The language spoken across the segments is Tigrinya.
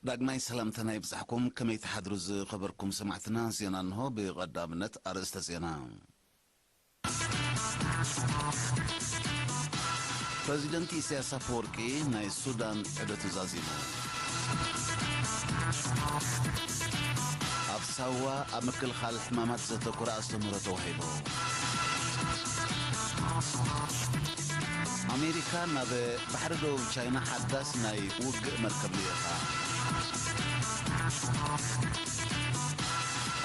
ዳግማይ ሰላምታና ይብጻሕኩም ከመይ ትሓድሩ ዝኸበርኩም ሰማዕትና ዜና እንሆ ብቐዳምነት ኣርእስተ ዜና ፕረዚደንት ኢሳያስ ኣፈወርቂ ናይ ሱዳን ዑደቱ ዛዚሙ። ኣብ ሳዋ ኣብ ምክልኻል ሕማማት ዘተኮረ ኣስተምህሮ ተዋሂቡ። ኣሜሪካ ናብ ባሕሪ ደቡብ ቻይና ሓዳስ ናይ ውግእ መርከብ ልኢኻ።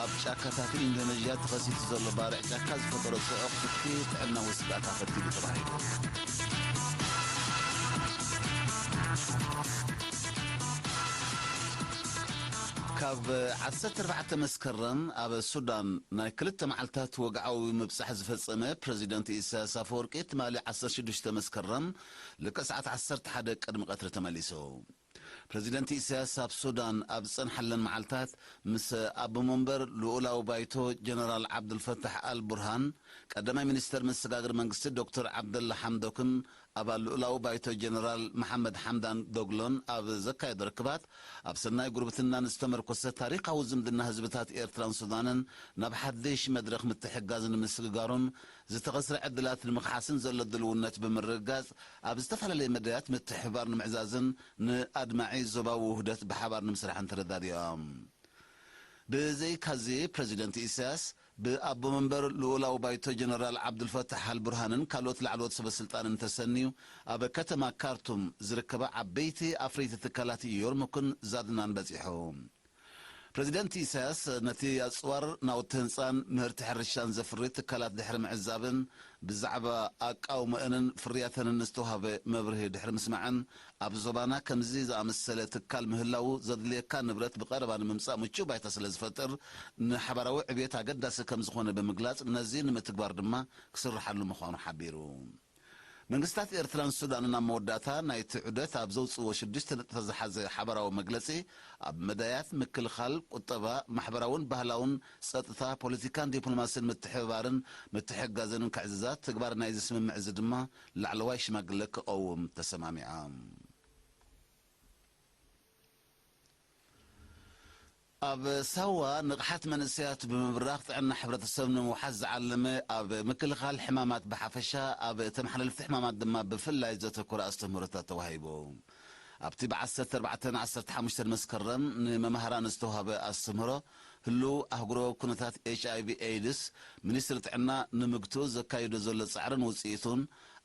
ኣብ ጫካታት ኢንዶነዥያ ተኸሲቱ ዘሎ ባርዕ ጫካ ዝፈጠሮ ጽዑቕ ፍትሒ ጥዕናዊ ስግኣት ኣኸቲሉ ተባሂሉ። ካብ ዓሰርተ ኣርባዕተ መስከረም ኣብ ሱዳን ናይ ክልተ መዓልታት ወግዓዊ ምብጻሕ ዝፈጸመ ፕረዚደንት ኢሳያስ ኣፈወርቂ ትማሊ ዓሰርተ ሽዱሽተ መስከረም ልክዕ ሰዓት ዓሰርተ ሓደ ቅድሚ ቀትሪ ተመሊሱ። ፕረዚደንት ኢሳያስ ኣብ ሱዳን ኣብ ዝጸንሓለን መዓልታት ምስ ኣቦ መንበር ልኡላዊ ባይቶ ጀነራል ዓብዱልፈታሕ ኣል ቡርሃን፣ ቀዳማይ ሚኒስተር መሰጋገሪ መንግስቲ ዶክተር ዓብደላ ሓምዶክን ኣባል ልኡላዊ ባይቶ ጀነራል መሓመድ ሓምዳን ዶግሎን ኣብ ዘካየዶ ርክባት ኣብ ሰናይ ጉርብትናን ዝተመርኮሰ ታሪኻዊ ዝምድና ህዝብታት ኤርትራን ሱዳንን ናብ ሓድሽ መድረኽ ምትሕግጋዝ ንምስግጋሩን ዝተኸስረ ዕድላት ንምኽሓስን ዘሎ ድልውነት ብምርግጋጽ ኣብ ዝተፈላለየ መዳያት ምትሕብባር ንምዕዛዝን ንኣድማዒ ዞባዊ ውህደት ብሓባር ንምስራሕን ተረዳዲኦም። ብዘይካዚ ፕረዚደንት ኢሳያስ፣ ብኣቦ መንበር ልኡላዊ ባይቶ ጀነራል ዓብዱልፈታሕ ኣልቡርሃንን ካልኦት ላዕለዎት ሰበስልጣንን ተሰንዩ ኣብ ከተማ ካርቱም ዝርከባ ዓበይቲ ኣፍረይቲ ትካላት ዮርሙክን ዛድናን በጺሑ። ፕረዚደንት ኢሳያስ ነቲ ኣጽዋር፣ ናውቲ ህንጻን ምህርቲ ሕርሻን ዘፍሪ ትካላት ድሕሪ ምዕዛብን ብዛዕባ ኣቃውመእንን ፍርያተንን ዝተዋህበ መብርሂ ድሕሪ ምስማዕን ኣብ ዞባና ከምዚ ዝኣመሰለ ትካል ምህላዉ ዘድልየካ ንብረት ብቐረባ ንምምጻእ ምቹእ ባይታ ስለዝፈጥር ንሓባራዊ ዕብየት ኣገዳሲ ከምዝኾነ ብምግላጽ ነዚ ንምትግባር ድማ ክስርሓሉ ምዃኑ ሓቢሩ። መንግስታት ኤርትራን ሱዳንን ኣብ መወዳእታ ናይቲ ዑደት ኣብ ዘውጽእዎ ሽዱሽተ ነጥብታት ዝሓዘ ሓበራዊ መግለጺ፣ ኣብ መዳያት ምክልኻል፣ ቁጠባ፣ ማሕበራውን ባህላውን፣ ጸጥታ፣ ፖለቲካን ዲፕሎማሲን ምትሕብባርን ምትሕግጋዝንን ክዕዝዛ፣ ትግባረ ናይዚ ስምምዕ እዚ ድማ ላዕለዋይ ሽማግለ ክቐውም ተሰማሚዖም። ኣብ ሳዋ ንቕሓት መንእሰያት ብምብራኽ ጥዕና ሕብረተሰብ ንምውሓስ ዝዓለመ ኣብ ምክልኻል ሕማማት ብሓፈሻ ኣብ ተመሓላለፍቲ ሕማማት ድማ ብፍላይ ዘተኮረ ኣስተምህሮታት ተዋሂቡ። ኣብቲ ብ ዓሰርተ ኣርባዕተ ን ዓሰርተ ሓሙሽተን መስከረም ንመማህራን ዝተውሃበ ኣስተምህሮ ህሉው ኣህጉርዊ ኩነታት ኤችኣይቪ ኤይድስ፣ ሚኒስትሪ ጥዕና ንምግትኡ ዘካይዶ ዘሎ ጻዕርን ውጽኢቱን፣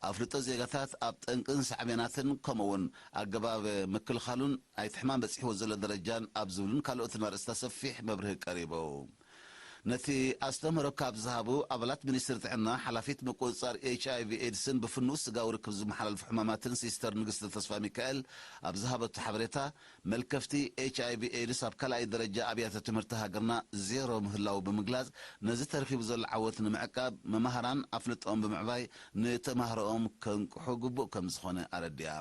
ኣፍልጦ ዜጋታት ኣብ ጠንቅን ሳዕቤናትን ከምኡ'ውን ኣገባብ ምክልኻሉን ናይቲ ሕማም በጺሕዎ ዘሎ ደረጃን ኣብ ዝብሉን ካልኦትን ኣርእስታት ሰፊሕ መብርሂ ቀሪቡ። ነቲ ኣስተምህሮ ካብ ዝሃቡ ኣባላት ሚኒስትሪ ጥዕና ሓላፊት ምቁጽጻር ኤች ኣይቪ ኤድስን ብፍኑው ስጋዊ ርክብ ዝመሓላለፉ ሕማማትን ሲስተር ንግስቲ ተስፋሚካኤል ኣብ ዝሃበቶ ሓበሬታ መልከፍቲ ኤች ኣይቪ ኤድስ ኣብ ካልኣይ ደረጃ ኣብያተ ትምህርቲ ሃገርና ዜሮ ምህላዉ ብምግላፅ ነዚ ተረኪቡ ዘሎ ዓወት ንምዕቃብ መማህራን ኣፍልጠኦም ብምዕባይ ንተማሃሮኦም ከንቅሑ ግቡእ ከምዝኾነ ኣረዲኣ።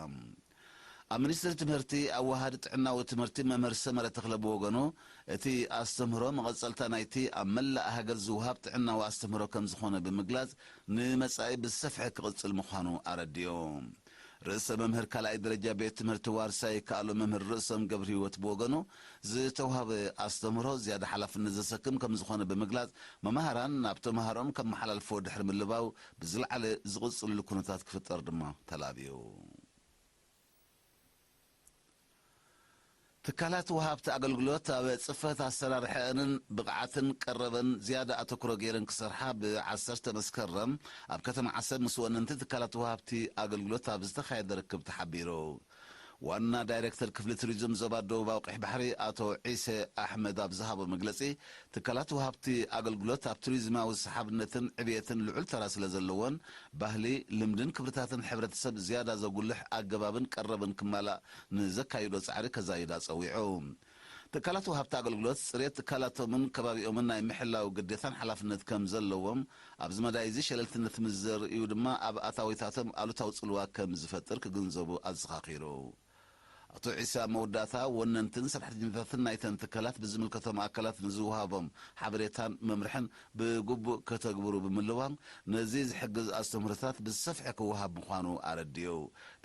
ኣብ ሚኒስትሪ ትምህርቲ ኣወሃሃዲ ጥዕናዊ ትምህርቲ መምህር ሰመረ ተኽለ ብወገኑ እቲ ኣስተምህሮ መቐፀልታ ናይቲ ኣብ መላእ ሃገር ዝወሃብ ጥዕናዊ ኣስተምህሮ ከምዝኾነ ብምግላፅ ንመፃኢ ብዝሰፍሐ ክቕፅል ምዃኑ ኣረዲኡ። ርእሰ መምህር ካልኣይ ደረጃ ቤት ትምህርቲ ዋርሳይ ይከኣሎ መምህር ርእሶም ገብርሂወት ብወገኑ፣ ዝተውሃበ ኣስተምህሮ ዝያዳ ሓላፍነት ዘሰክም ከምዝኾነ ብምግላፅ፣ መማህራን ናብ ተምሃሮኦም ከመሓላልፍዎ ድሕሪ ምልባው ብዝለዓለ ዝቕፅልሉ ኩነታት ክፍጠር ድማ ተላብዩ። ትካላት ወሃብቲ ኣገልግሎት ኣብ ፅፈት ኣሰራርሐኣንን ብቕዓትን ቀረበን ዝያዳ ኣተኩሮ ገይረን ክሰርሓ ብ ዓሰርተ መስከረም ኣብ ከተማ ዓሰብ ምስ ወነንቲ ትካላት ወሃብቲ ኣገልግሎት ኣብ ዝተኻየደ ርክብ ተሓቢሩ። ዋና ዳይሬክተር ክፍሊ ቱሪዝም ዞባ ደቡባዊ ቀይሕ ባሕሪ ኣቶ ዒሰ ኣሕመድ ኣብ ዝሃቦ መግለፂ ትካላት ወሃብቲ ኣገልግሎት ኣብ ቱሪዝማዊ ሰሓብነትን ዕብየትን ልዑል ተራ ስለዘለዎን ባህሊ፣ ልምድን ክብርታትን ሕብረተሰብ ዝያዳ ዘጉልሕ ኣገባብን ቀረብን ክማላእ ንዘካይዶ ፃዕሪ ከዛይዳ ፀዊዑ። ትካላት ወሃብቲ ኣገልግሎት ፅሬት ትካላቶምን ከባቢኦምን ናይ ምሕላው ግዴታን ሓላፍነት ከምዘለዎም ኣብዚ መዳይ እዚ ሸለልትነት ምስዘርእዩ ድማ ኣብ ኣታዊታቶም ኣሉታዊ ፅልዋ ከምዝፈጥር ክግንዘቡ ኣዘኻኺሩ። ኣቶ ዒሳ ኣብ መወዳእታ፣ ወነንትን ሰራሕተኛታትን ናይተን ትካላት ብዝምልከቶም ኣካላት ንዝወሃቦም ሓበሬታን መምርሕን ብግቡእ ከተግብሩ ብምልዋም ነዚ ዝሕግዝ ኣስተምህሮታት ብዝሰፍሐ ክወሃብ ምዃኑ ኣረዲኡ።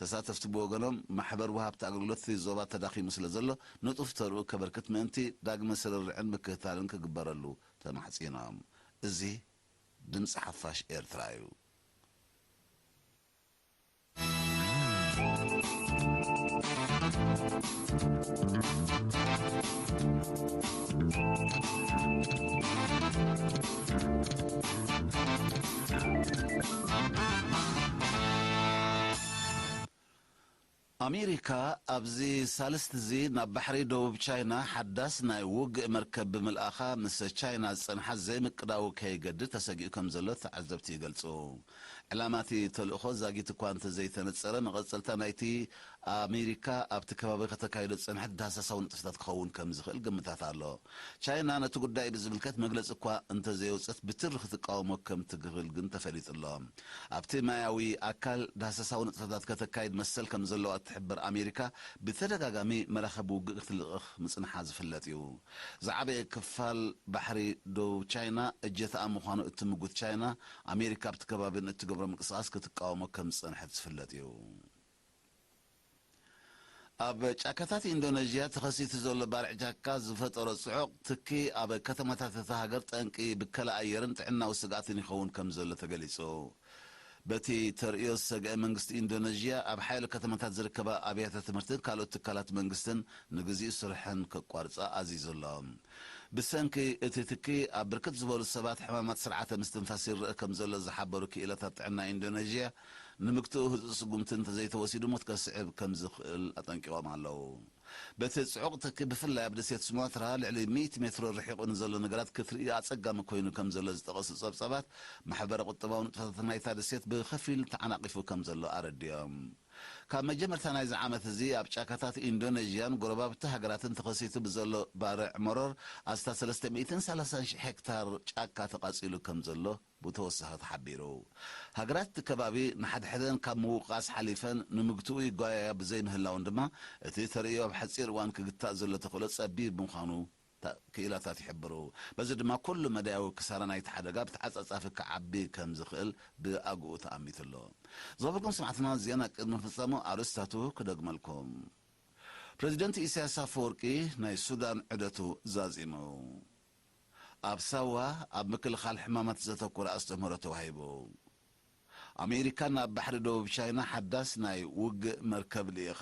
ተሳተፍቲ ብወገኖም፣ ማሕበር ወሃብቲ ኣገልግሎት እቲ ዞባ ተዳኺሙ ስለዘሎ ንጡፍ ተርኡ ከበርክት ምእንቲ ዳግመ ስርርዕን ምክትታልን ክግበረሉ ተማሕጺኖም። እዚ ድምጺ ሓፋሽ ኤርትራ እዩ። ኣሜሪካ ኣብዚ ሳልስቲ'ዚ ናብ ባሕሪ ደቡብ ቻይና ሓዳስ ናይ ውግእ መርከብ ብምልኣኻ ምስ ቻይና ዝጸንሓ ዘይምቅዳው ከይገድድ ተሰጊኡ ከምዘሎ ተዓዘብቲ ይገልጹ። ዕላማ እቲ ተልእኾ ዛጊት እኳ እንተዘይተነጸረ፣ መቐጸልታ ናይቲ ኣሜሪካ ኣብቲ ከባቢ ከተካይዶ ዝጸንሐት ዳህሳሳዊ ንጥፈታት ክኸውን ከም ዝኽእል ግምታት ኣሎ። ቻይና ነቲ ጉዳይ ብዝምልከት መግለጺ እኳ እንተዘየውጸት ብትሪ ክትቃወሞ ከም ትግህል ግን ተፈሊጡ ኣሎ። ኣብቲ ማያዊ ኣካል ዳህሳሳዊ ንጥፈታት ከተካይድ መሰል ከም ዘለዋ እትሕብር ኣሜሪካ ብተደጋጋሚ መራኽብ ውግእ ክትልእኽ ምጽንሓ ዝፍለጥ እዩ። ዝዓበየ ክፋል ባሕሪ ደቡብ ቻይና እጀታኣ ምዃኑ እትምጉት ቻይና ኣሜሪካ ኣብቲ ከባቢ ንእትገብሮ ምንቅስቓስ ክትቃወሞ ከም ዝጸንሐት ዝፍለጥ እዩ። ኣብ ጫካታት ኢንዶነዥያ ተኸሲቱ ዘሎ ባርዕ ጫካ ዝፈጠሮ ጽዑቕ ትኪ ኣብ ከተማታት እታ ሃገር ጠንቂ ብከላ ኣየርን ጥዕናዊ ስግኣትን ይኸውን ከም ዘሎ ተገሊጹ። በቲ ተርእዮ ዝሰግአ መንግስቲ ኢንዶነዥያ ኣብ ሓያሎ ከተማታት ዝርከባ ኣብያተ ትምህርትን ካልኦት ትካላት መንግስትን ንግዚኡ ስርሐን ከቋርጻ ኣዚዙ ኣሎ። ብሰንኪ እቲ ትኪ ኣብ ብርክት ዝበሉ ሰባት ሕማማት ስርዓተ ምስትንፋስ ይረእ ከምዘሎ ዝሓበሩ ክኢላታት ጥዕና ኢንዶነዥያ፣ ንምግትኡ ህጹጽ ስጉምቲ እንተዘይተወሲዱ ሞት ከስዕብ ከምዝኽእል ኣጠንቂቖም ኣለዉ። በቲ ጽዑቕ ትኪ ብፍላይ ኣብ ደሴት ሱማትራ ልዕሊ ሚእቲ ሜትሮ ርሒቑ ንዘሎ ነገራት ክትርኢ ኣጸጋሚ ኮይኑ ከምዘሎ ዝጠቐሱ ጸብጻባት፣ ማሕበረ-ቁጠባዊ ንጥፈታት ናይታ ደሴት ብኸፊል ተዓናቒፉ ከምዘሎ ኣረዲኦም። ካብ መጀመርታ ናይዚ ዓመት እዚ ኣብ ጫካታት ኢንዶነዥያን ጎረባብቲ ሃገራትን ተኸሲቱ ብዘሎ ባርዕ መሮር ኣስታት ሰለስተ ሚእትን ሰላሳን ሽሕ ሄክታር ጫካ ተቓጺሉ ከምዘሎ ብተወሳኺ ተሓቢሩ። ሃገራት እቲ ከባቢ ንሓድሕደን ካብ ምውቃስ ሓሊፈን ንምግትኡ ይጓየያ ብዘይምህላወን ድማ እቲ ተርእዮ ኣብ ሓጺር እዋን ክግታእ ዘሎ ተኽእሎ ጸቢብ ምዃኑ ክኢላታት ይሕብሩ። በዚ ድማ ኩሉ መዳያዊ ክሳራ ናይቲ ሓደጋ ብተዓጻጻፊ ክዓቢ ከም ዝኽእል ብኣግኡ ተኣሚቱ ኣሎ። ዝኸበርኩም ሰማዕትና ዜና ቅድሚ ምፍጻሙ ኣርእስታቱ ክደግመልኩም። ፕረዚደንት ኢሳያስ ኣፈወርቂ ናይ ሱዳን ዑደቱ ዛዚሙ። ኣብ ሳዋ ኣብ ምክልኻል ሕማማት ዘተኮረ ኣስተምህሮ ተዋሂቡ። ኣሜሪካ ናብ ባሕሪ ደቡብ ቻይና ሓዳስ ናይ ውግእ መርከብ ልኢኻ።